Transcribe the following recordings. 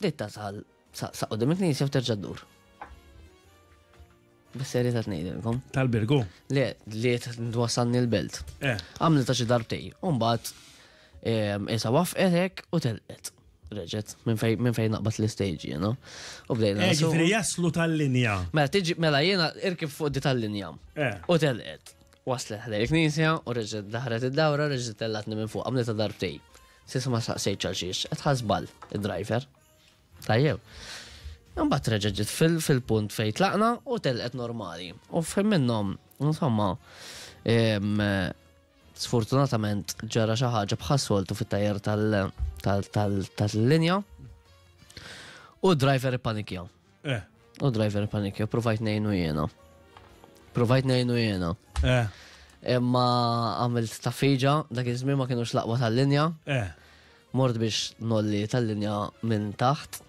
Bdejt tasal saqsa qudiem il-knisja u terġa' ddur. Bis-serjetà tnejdilkom. Tal-birgu? Le, li twassalni l-belt. Eh. Għamlet ta' xi darbtej. Umbagħad ehm, isa wafqet hekk u telqet. Reġet, minn fejn min fej naqbad l-istage jiena. U bdejna. Eh, ġifieri jaslu tal-linja. Mela tiġi mela jiena irkib fuq di tal-linja. Eh. U telqet. Waslet ħlej il-knisja u reġet daħret id-dawra reġet tellatni minn fuq għamlet ta' darbtej. S'issa ma staqsejtx għal xiex qed ħa żball id-driver. Tajjeb. Imbagħad reġa' ġiet fil-punt fejn tlaqna u telqet normali. U fejn minnhom, insomma, sfortunatament ġara xi ħaġa bħas-soltu fit-tajjer tal-linja u d-driver ippanikja. Eh. U driver panikja, provajt nejnu jena. Provajt nejnu jena. Eh. Imma għamilt ta' fiġa, dak iż-żmien ma kienux laqwa tal-linja. Eh. Mort biex nolli tal-linja minn taħt.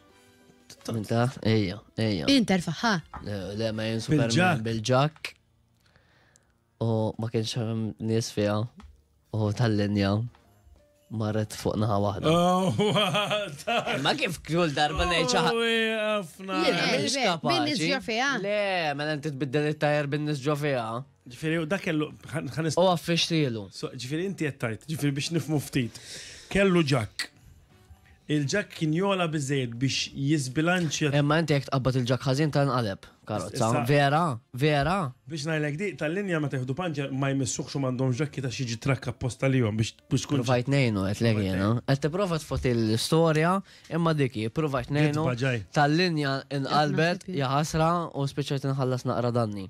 Minn taħt, ejja, ejja. Inter faħħa. Le, ma jinsu bil-ġak. U ma kienx hemm nies fiha u tal-linja marret fuq naħa waħda. Oh, ma kif kull darba ngħid xi ħadd. Jiena mhix kapaċi. Bin-nies ġo fiha. Le, mela inti tbiddel it-tajer bin-nies ġo fiha. Ġifieri dak kellu ħanis. U għaffixtilu. Ġifieri inti qed tajt, ġifieri biex nifmu ftit. Kellu ġakk. Il-ġakk kien jogħla biżżejjed biex jiżbilanċja. Imma inti jekk tqabbad il-ġakk ħażin tanqaleb karozza. Issa- Vera? Vera? Biex ngħidlek di, tal-linja meta jieħdu panċer ma jmissuhx u m'għandhomx ġakki ta' xi jiġi trakk apposta lihom biex biex tkun Provajt nejnu, għet Provajt l-egħina. ngħinu. Għet t-prova tfot il-storja, imma diki, provajt nejnu, Gidba ġaj. tal-linja inqalbet, naħseb jien. jaħasra u spiċċajt inħallas naqra danni.